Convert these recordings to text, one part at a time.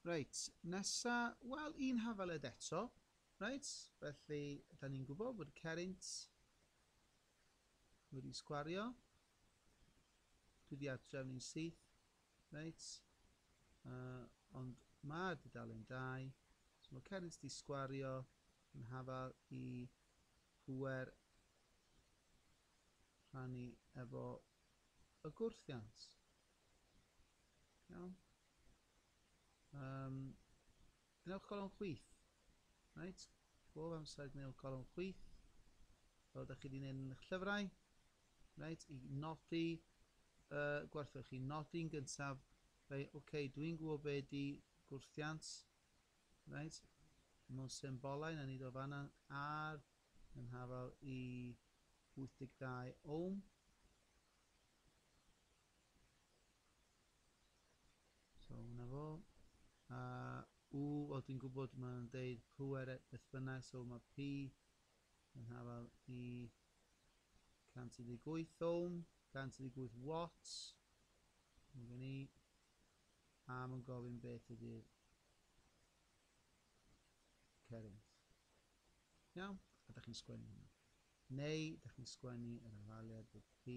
Reit, nesa, wel, un hafaled eto. Reit, felly, da ni'n gwybod bod y cerrynt wedi sgwario. Dwi wedi adref ni'n syth. Reit, uh, ond mae'r dudalen dau. So mae cerrynt wedi sgwario yn hafal i pwer rhannu efo y gwrthiant. Iawn. Um, gwnewch golwm chwith. Right? Bob amser gwnewch golwm chwith. Fel ydych chi wedi gwneud yn eich llyfrau. Right? I nodi uh, gwerthwch chi. Nodi'n gyntaf. Right? Oce, okay, dwi'n gwybod be di gwrthiant. Right? Mewn symbolau, na nid o fanna ar yn hafal i 82 ohm. So hwnna fo. A u, wel dwi'n gwybod mae'n deud pŵer e- beth bynnag, so mae P yn hafal i 118 ohm, 118 watts. Mae gen i. A mae'n gofyn beth ydy'r current. Iawn? A da chi'n sgwennu hwnna. Neu, da chi'n sgwennu yr hafaliad bod P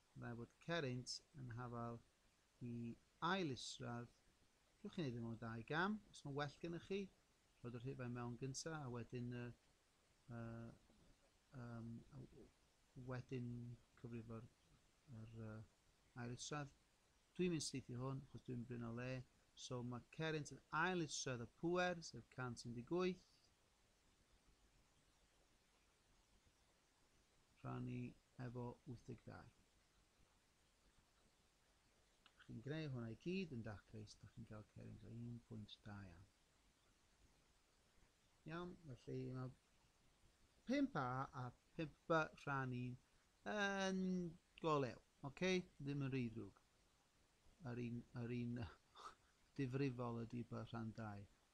Fel bod cerrynt yn hafal i ail isradd, gewch chi wneud e mewn dau gam, os mae'n well gennych chi, rhoi'r rhifau mewn gyntaf a wedyn y uh, um, wedyn cyfrifo'r yr, uh, ail isradd. Dwi'n mynd syth i hwn, achos dwi'n bryn o le. So mae Cerint yn ail isradd y pwer, sef 118. rhannu efo 82. Chi'n greu hwnna i gyd yn daclus, da chi'n cael cerins o 1.2 iawn. Iawn, felly mae 5A a 5B rhannu'n yn golew. Oce, okay? ddim yn rhy ddrwg. Yr un, yr un difrifol ydy by rhan 2.